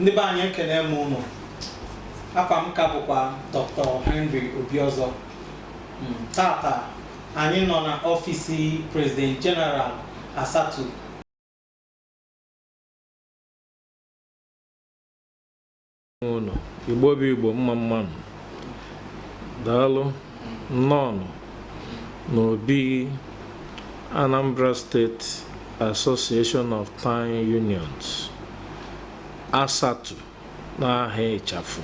ndị be anyị ekene m ụnụ afa m ka bụkwa Dr. Henry Obiozọ Mm, tata anyị nọ na ọfisi President General ASATU ụnụ igbo bụ igbo mma mma nụ daalụ nnọọnụ n'obi anambra steeti Association of Town Unions, ASATU n'aha ịchafụ.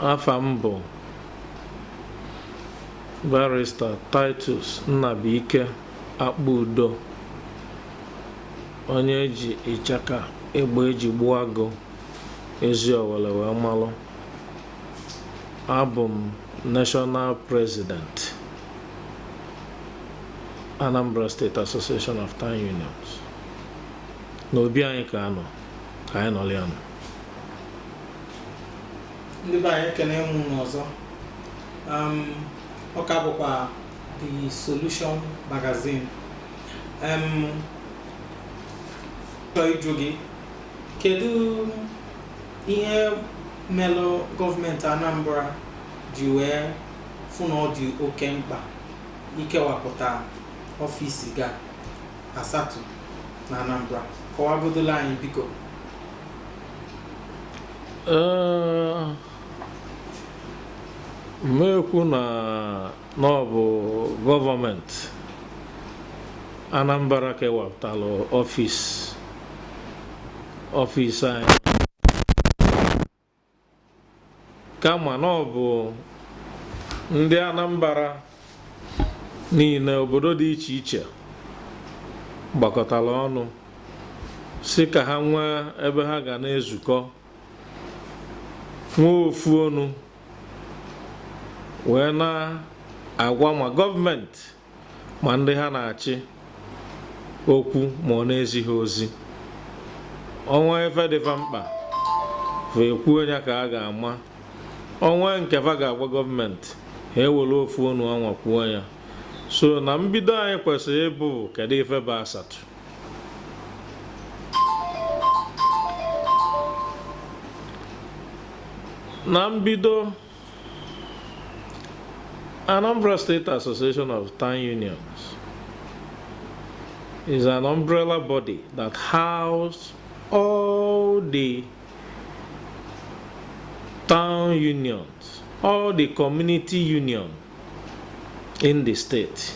Afa m bụ Barrister Titus Nnabuike Akpudo, onye eji ịchaka egbe eji gbuo agụ Eziowelle wee malụ. Abụ m National President Anambra State Association of Town Unions na obi anyị ka a nọ ka anyị nọlị anọ ndị be anyị ekene m ụnụ ọzọ um, ọ ka bụkwa The Solution Magazine um, chọọ ịjụ gị kedu ihe melụ gọọmenti anambra ji wee fụ na ọ dị oke mkpa ikewapụta ọfisi ga ASATU na Anambra kọwagodola anyị biko Ee, m ma-ekwu na na ọ bụ gọọmenti Anambra kewapụtalụ ọfis ọfis anyị kama na ọ bụ ndị Anambra niile obodo dị iche iche gbakọtara ọnụ sị ka ha nwee ebe ha ga na-ezukọ nwee ofu ọnụ wee na-agwa ma gọọmenti ma ndị ha na-achị okwu ma ọ na-ezi ha ozi o nwee ife dị fa mkpa fa ekwuo ya ka a ga-ama o nwee nke fa ga-agwa gọọmenti ha ewere ofu onu anwa kwuo ya so na mbido anyị kwesịrị ịbụ kedu ife bụ ASATU na mbido Anambra State Association of Town Unions is an umbrella body that houses all the town unions, all the community union in the state.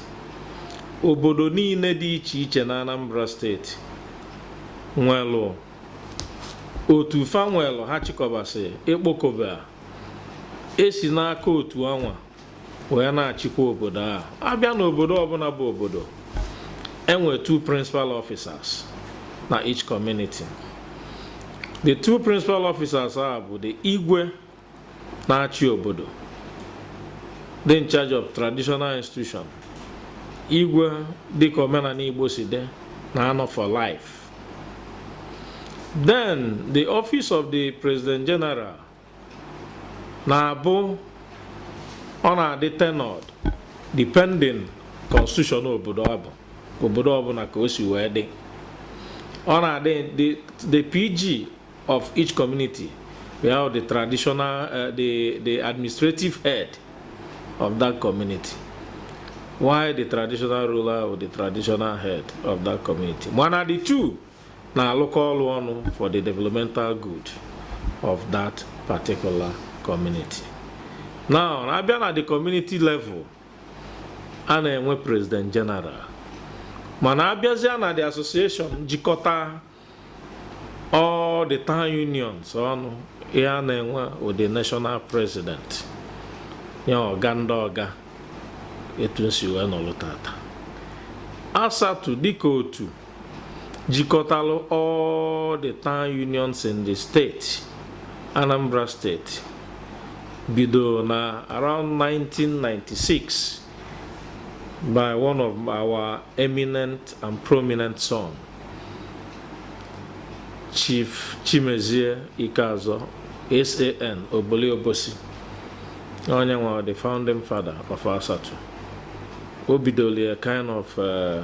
Obodo niile dị iche iche na Anambra steeti nwelụ otu fa nwelụ ha chịkọbasị ịkpọkobe a e si n'aka otu anwa wee na-achịkwa obodo ahụ a bịa n'obodo ọbụla bụ obodo e nwe two principal officers na each community the two principal officers a bụ the igwe na-achị obodo dị in charge of traditional institution igwe dịka omenala igbo si dị na-anọ for life then the office of the president general na-abụ ọ na-adị tenured depending constitution obodo ọ bụ obodo ọbụla ka o si wee dị ọ na-adị the the pg of each community we have the traditional uh, the the administrative head of that community while the traditional ruler wụ the traditional head of that community mana the two na-alụkọ ọlụ ọnụ for the developmental good of that particular community. Now, a bịa na the community level, a na-enwe president general mana a bịazịa na the association jikọta all the town unions ọnụ a na-enwe the national president ya ọga ndị ọga etu m si wee nọlụ tata ASATU dịka otu jikọtalụ all the town unions in the state Anambra steeti bido na around 1996 by one of our eminent and prominent son Chief Chimezie Ikeazor SAN Oboli Obosi onye wụ the founding father of ASATU o bidolu ya kind of uh,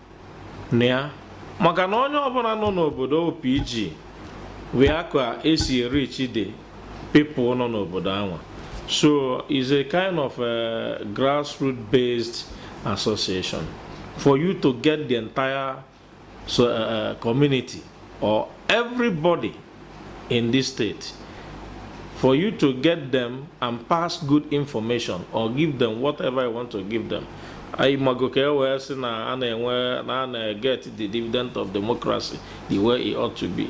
na ya maka na onye ọbụla nọ n'obodo ọ PG wụ aka e si e-reach the people nọ n'obodo anwa so it's a kind of a grassroot based association for you to get the entire so, uh, uh community or everybody in this state for you to get them and pass good information or give them whatever you want to give them anyị mago ka e wee sị na a na-enwe na a na-get the dividend of democracy the way it ought to be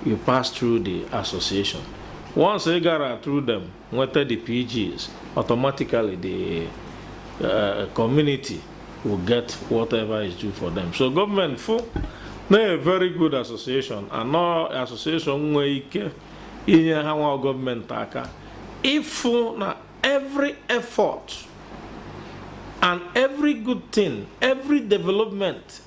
you pass through the association once ị gara through them nweta the PGs, automatically the uh, community will get whatever is due for them. So government fụ na a very good association and na ọ association nwee ike inye ha nwa gọọmenti aka ịfụ na every effort and every good thing every development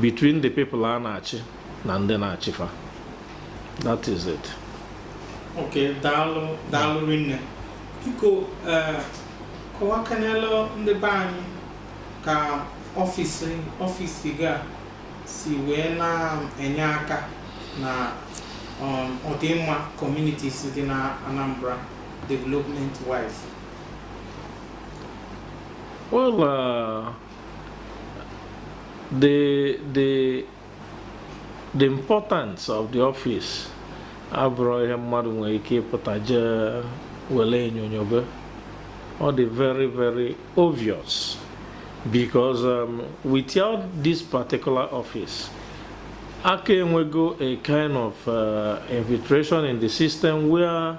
between the people a na-achị na ndị na-achị fa that is it ok daalụ daalụ rinne biko eh, kọwakanelụ ndị be anyị ka office office gị a si wee na-enye aka na um, ọdịmma communities dị na Anambra development wise well uh, the the the importance of the office abụrọ ihe mmadụ nwere ike ịpụta jee were enyonyobe ọ dị very very obvious because um, without this particular office a ka-enwego a kind of uh, infiltration in the system where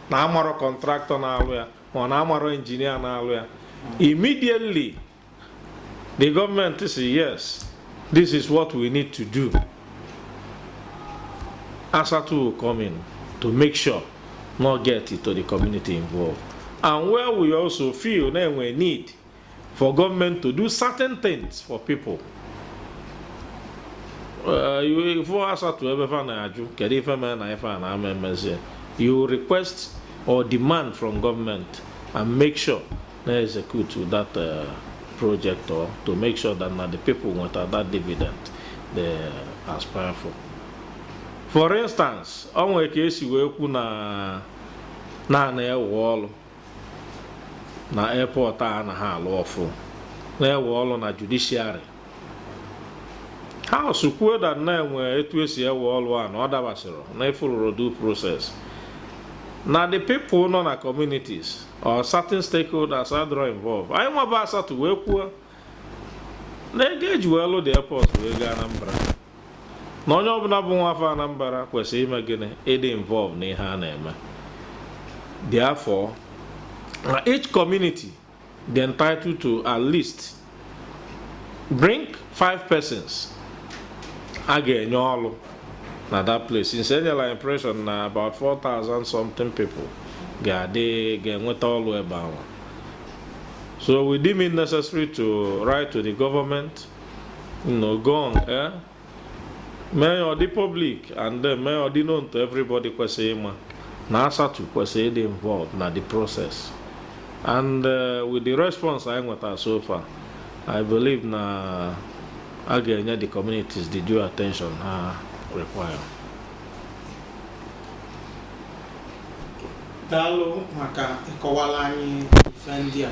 na amarọ contractor na-alụ ya or na amarọ engineer na-alụ ya immediately the government sị yes this is what we need to do ASATU will come in to make sure na ọ get to the community involved and where we also feel na e nwe need for government to do certain things for people uh, you for us to ebe fa na-ajụ kedu ife mere na ife a na ama emezie you request or demand from government and make sure na execute that uh, project or to make sure that na the people nweta that dividend they aspire for for instance ọ nwere ka e si wee kwu na a na-ewe ọrụ na airport a na ha alụ ọfụụ na-ewe ọrụ na judiciary House kwuo that na e nwe etu e si ewe ọrụ a na ọ dabasịrọ na e followrọ due process na the people nọ na communities or certain stakeholders adịrọ involved anyịnwa bụ ASATU wee kwuo na ego e ji wee lụ the airport bụ ego Anambra na onye ọbụla bụ nwa afọ Anambra kwesịrị ime gịnị ịdị involved na ihe a na-eme therefore na each community dị entitled to at least bring five persons a ga-enye ọlụ na that place since e nyela impression na about 4,000 something people ga-adị ga-enweta ọlụ ebe anwa so we deem it necessary to write to the government no go on air mee ya ọ dị public and then mee ya ọ dị known to everybody kwesịrị ịma na ASATU kwesịrị ịdị involved na the process and uh, with the response anyị nwetara so far i believe na a ga-enye the communities the due attention ha require daalụ maka ịkọwara anyị ife ndị a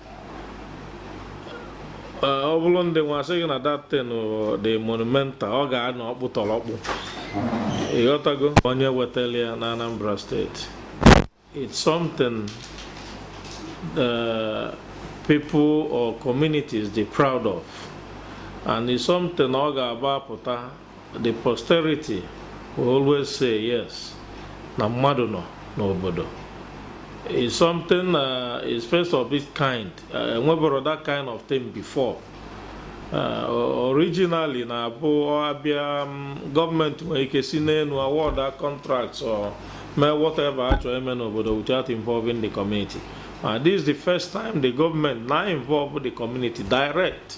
ọ bụrụ ndị nwa asị gị na that thing dị monumental ọ ga-anọ ọkpụtọrọkpụ ị ghọtago onye wetara ya na Anambra steeti it's something the uh, people or communities dị proud of and it's something ọ ga-abụ a pụta The posterity will always say yes na mmadụ nọ n'obodo it's something uh, it's first of its kind uh, enweboro that kind of thing before uh, originally na-abụ a bịa um, gọọmenti nwere ike si n'elu award a contract or mee whatever a chọrọ ime n'obodo without involving the community uh, this is the first time the government na-involve the community direct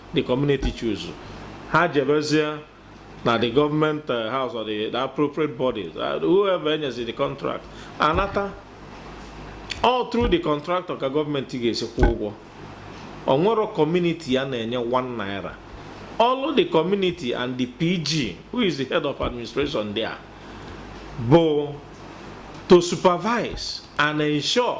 the community choose ha jebezie na the government uh, house or the, the appropriate bodies uh, whoever e nyezi the contract anata ọ bụ through the contractor ka gọọmenti ga-esi kwụọ ụgwọ o nwerọ community a na-enye 1 naira ọlụ the community and the PG who is the head of administration there bụ to supervise and ensure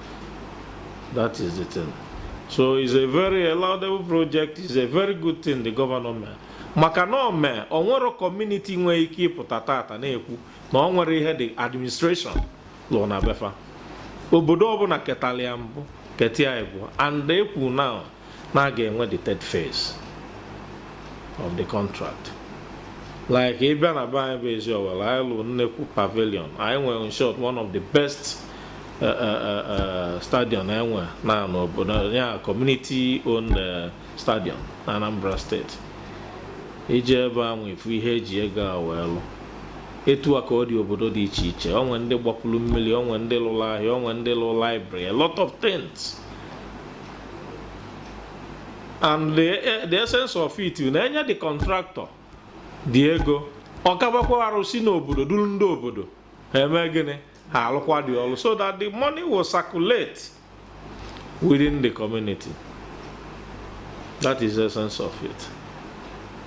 That is the thing. So it's a very laudable project, it's a very good thing the governor mere. maka na o mee o nwerọ kọmuniti nwee ike ịpụta tata na-ekwu na o nwerọ ihe the administration lụrụ na be fa obodo ọbụla ketara ya mbụ keta ya ịbụọ and ekwu na na a ga-enwe the third phase of the contract like ị bịa na be anyị bụ Eziowelle anyị lụrụ nnekwu pavilion anyị nwere in short one of the best uh, uh, uh, stadium e nwe na n'obodo ya community owned stadium na Anambra steeti i je ebe ahụ ị fụ ihe e ji ego a wee lụ etu a ka ọ dị obodo dị iche iche o nwe ndị gbapụrụ mmiri o nwe ndị lụrụ ahịa o nwe ndị lụrụ library a lot of things and the, eh, the essence of it na e nye the contractor the ego ọ kabakwa arụ si n'obodo duru ndị obodo ha eme gịnị ha alụkwa the ọlụ so that the money will circulate within the community that is the essence of it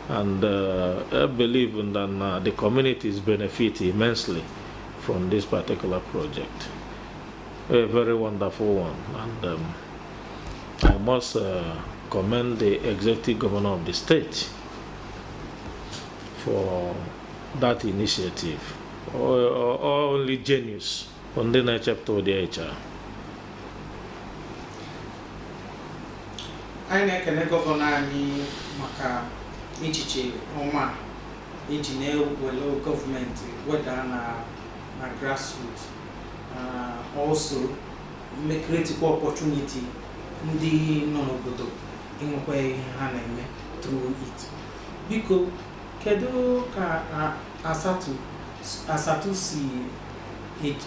and uh, I believe that uh, the communities benefit immensely from this particular project. A very wonderful one and um, I must uh, commend the executive governor of the state for that initiative. Only genius ọ ndị na-echepụta ụdị ihe a anyị na-ekene gọvanọ anyị maka echiche ọma eji na-ewere gọọmenti weda na grassroots Uh, also, wee createkwa opportunity ndị nọ n'obodo inwekwa ihe ha na-eme through it. Biko, kedu ka Asatu Asatu si eji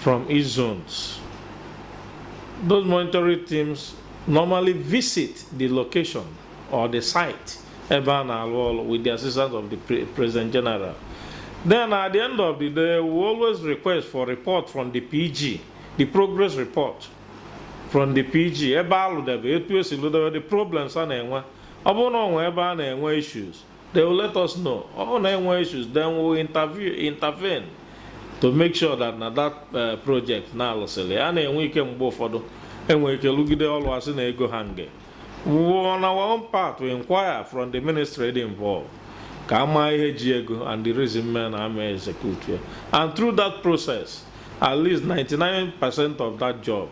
from each zones. Those monitoring teams normally visit the location or the site ebe a na-alụ ọrụ with the assistance of the pre- President General. Then at the end of the day, we always request for report from the PG, the progress report from the PG ebe a lụdebe etu esi lụdebe the problems a na-enwe ọ bụrụ na o nwee ebe a na-enwe issues They will let us know. Ọ bụrụ na enwe issues, then we will interview, intervene to make sure that na that uh, project na alụsịrị a na-enwe ike mgbe ụfọdụ enwe ike lụgide ọlụ asị na ego hang on our own part we inquire from the ministry involved ka ama ihe ji ego and the reason me na ama execute ya and through that process at least 99% of that job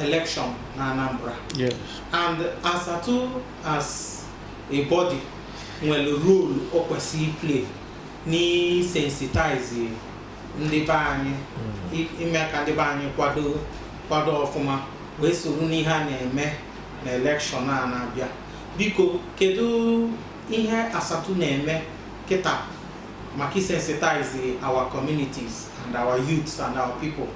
election na Anambra yes. and Asatu as a body nwere role o kwesị iplay n'isensitize ndị be anyị mm. ime ka ndị be anyị kwado kwado ọfụma wee soro n'ihe a na-eme na election a na-abịa biko kedu ihe Asatu na-eme kịta maka isensitize our communities and our youths and our people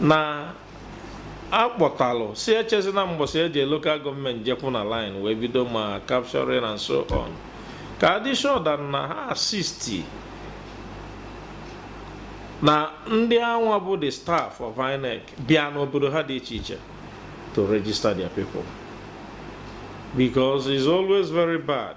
na akpọtalụ si echezi na mgbọsị each local government jekwụ na line wee bido ma capturing and so on ka adị sure that na ha assist na ndị anwa bụ the staff of INEC bịa n'obodo ha dị iche iche to register their people because it's always very bad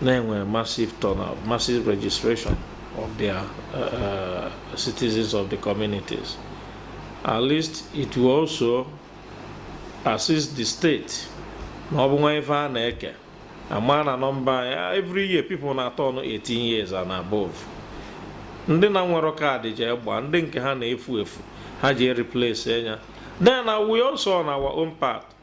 na enwere massive turnout massive registration of their uh, uh, citizens of the communities at least it will also assist the state na ọ bụ nwee ife a na-eke ama na nọmba anyị every year people na-aturn 18 years and above ndị na nwerọ kaadị je gba ndị nke ha na-efu efu ha je replace nya then we also on our own part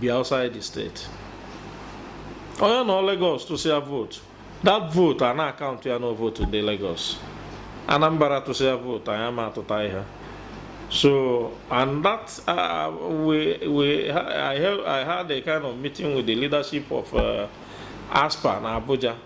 bi outside the state onye nọ Lagos tụsịa vote that vote a na-akaụntụ ya na vote ndị Lagos Anambra tụsịa vote anyị ama atụta ihe so and that uh, we we I, held, I had a kind of meeting with the leadership of uh, ASPA na Abuja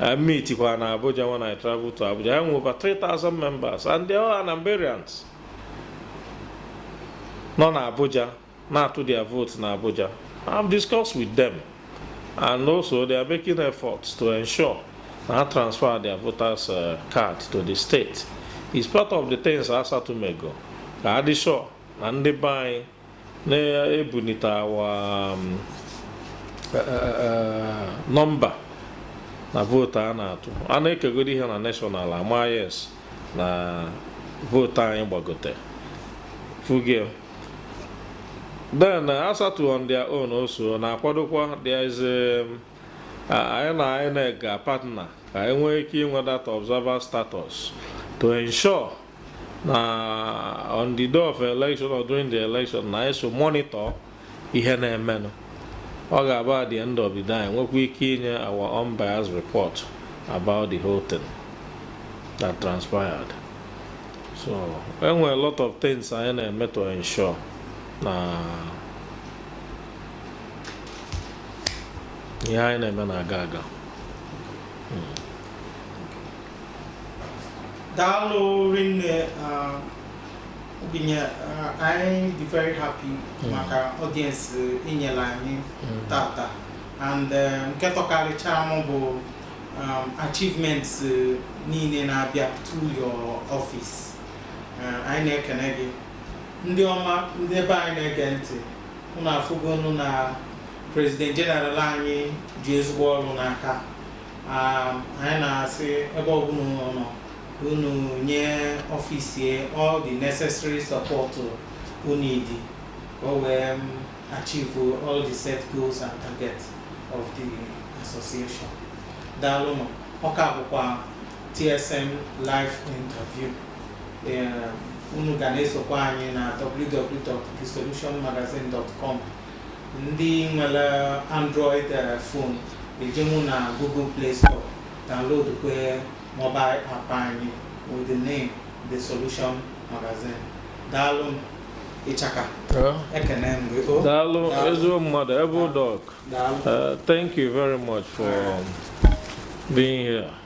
I meet kwa na Abuja when I travel to Abuja. Ha nwe over 3,000 members and they are Anambarians. Nọ na Abuja, na-atụ their votes na Abuja. I've discussed with them and also they are making efforts to ensure na ha transfer their voters uh, card to the state. It's part of the things ASATU mego ka a dị sure na ndị be anyị na-ebunite our um, e, e, e, number na vote a na-atụ a na-ekegodu ihe na national a ma yes na vote anyị gbagote ị fụgo ya then uh, ASATU on their own also na-akwadokwa there is um, anyị na INEC ga partner ka e nwee ike inwe that observer status to ensure na on the day of election or during the election na e so monitor ihe na-emenụ ọ ga-abụ at the end of the day nwekwa ike inye our unbiased report about the whole thing that transpired so e nwere a lot of things anyị na-eme to ensure na ihe anyị na-eme na-aga aga hmm. daalụ rinne obi anyị dị very happy mm. maka audience i nyelu anyị mm. tata and um, nke tọkarịcha m bụ um, achievements uh, niile na-abịa to your office uh, anyị na-ekene gị ndị ọma ndị ebe anyị na-ege ntị unu afụgonụ na president general anyị ji ezigbo ọrụ n'aka anyị na-asị ebe ọbụla unu nọ unu nye office ya all the necessary support ọ need ka o wee um, achieve all the set goals and targets of the association daalụnụ ọ ka bụkwa TSM live interview unu ga na-esokwa anyị na www.thesolutionmagazine.com Ndị nwere Android phone ejenwu na Google Play Store download kwe mobile app anyị with the name The Solution Magazine. Daalụ m Ichaka. Ekene m gị. Oh, Daalụ ezigbo mmadụ ebe ụdọk. Daalụ. Uh, thank you very much for being here.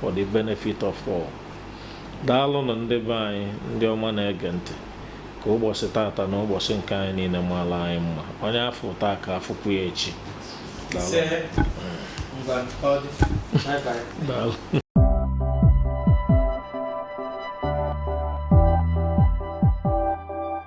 for the benefit of all daalụnụ ndị be anyị ndị ọma na-ege ntị ka ụbọchị tata na ụbọchị nke anyị niile maala anyị mma onye afụ taa ka afụkwu ya echi daalụ